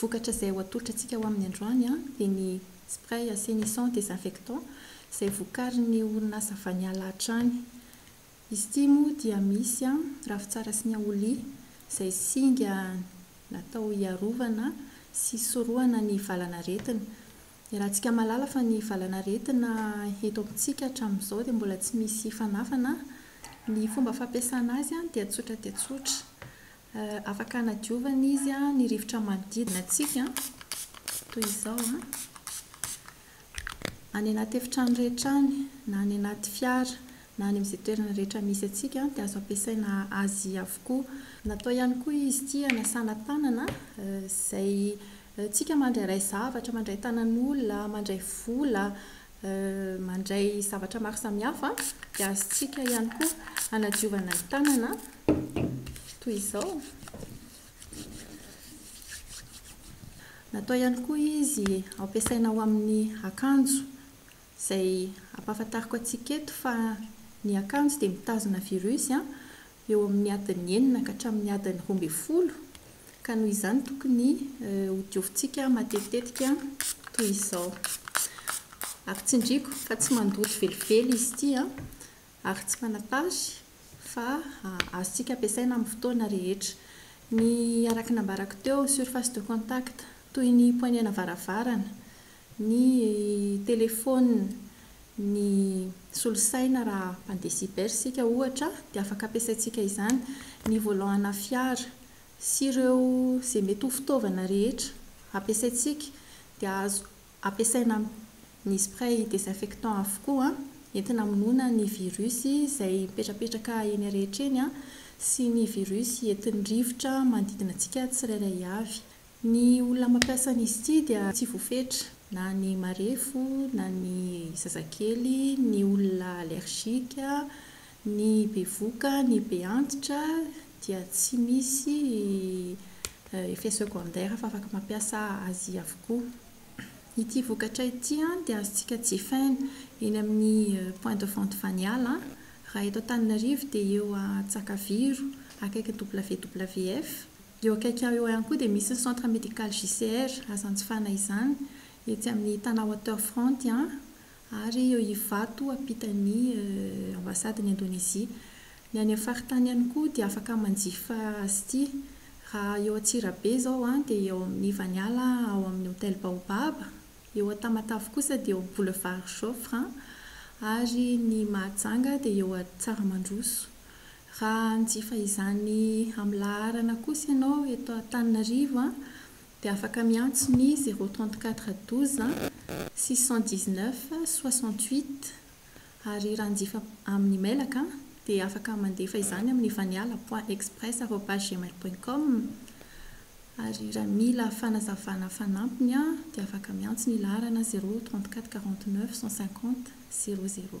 Vokatra izay ho atolotratsika ho amin'ny androany dia ny spray assainissant désinfectant izay vokarin'ny orinasa Vaniala hatrany. Izy ity moa dia misy ravitsara sy niaolia izay singa natao hiarovana sy hisorohana ny valan'aretina. Iarahantsika mahalala fa ny valan'aretina eto amintsika hatramin'izao dia mbola tsy misy fanafana. Ny fomba fampiasana azy dia tsotra dia tsotra. Afaka hanadiovana izy ny rivotra manodidina antsika toy izao, any anaty efitrano rehetra any na any anaty fiara na any amin'izay toerana rehetra misy antsika dia azo ampiasaina azy avokoa. Natao ihany koa izy ity hanasana tanana izay Tsika mandrairay zavatra, mandray tanan'olona, mandray vola, mandray zavatra maro samihafa, dia azontsika ihany koa hanadiovana ny tanana toy izao. Natao ihany koa izy hampiasaina ao amin'ny akanjo, izay ampahafantariko antsika eto fa ny akanjo dia mitazona virus eo amin'ny adiny enina ka hatramin'ny adiny roa ambin'ny folo ka noho izany tokony ho diovintsika matetitetika toy izao. Ary tsindriako fa tsy mandoto velively izy ity ary tsy manatary fa azontsika ampiasaina amin'ny fotoana rehetra. Ny araka ny nambarako teo, surface de contact, toy ny poignée-na varavarana, ny telefaonina, ny solosaina raha mpandeha cyber isika ohatra dia afaka ampiasaintsika izany, ny volant ana fiara sy ireo izay mety ho fitaovana rehetra ampiasaintsika dia azo ampiasaina amin'ny spray désinfectant avokoa entina hamonoana ny virus izay mipetrapetraka eny rehetra eny sy ny virus entin'ny rivotra manodidina antsika tsirairay avy. Ny olona mampiasa an'izy ity dia tsy voafetra, na ny marefo, na ny zazakely, ny olona allergique, ny bevoka, ny be antitra dia tsy misy effet secondaire fa afaka mampiasa azy avokoa. Ity vokatra ity dia azontsika jifaina eny amin'ny point de vente Vaniala, raha eto Antananarivo dia eo Antsakaviro akaikin'ny WWF. Eo akaiky ahy eo ihany koa dia misy ny centre médical JCR, azo anjifana izany, etsy amin'ny Tana Waterfront an, ary eo Ivato ampitan'ny ambasaden'i Indonesie. Ny any amin'ny faritany ihany koa dia afaka manjifa azy ity. Raha eo Antsirabe izao an, dia eo amin'ny Ivaniala ao amin'ny hotel Baobab, eo Antamatave kosa dia eo amin'ny boulevard Joffre an, ary ny Mahajanga dia eo Tsaramandroso. Raha hanjifa izany amin'ny laharana kosa ianao eto Antananarivo dia afaka miantso ny zéro trente quatre douze six cent dix neuf soixante huit ary raha hanjifa amin'ny mailaka dia afaka mandefa izany amin'ny vaniala point express arobase gmail point com ary raha mila fanazavana fanampiny dia afaka miantso ny laharana zéro trente quatre quarante neuf cent cinquante zéro zéro.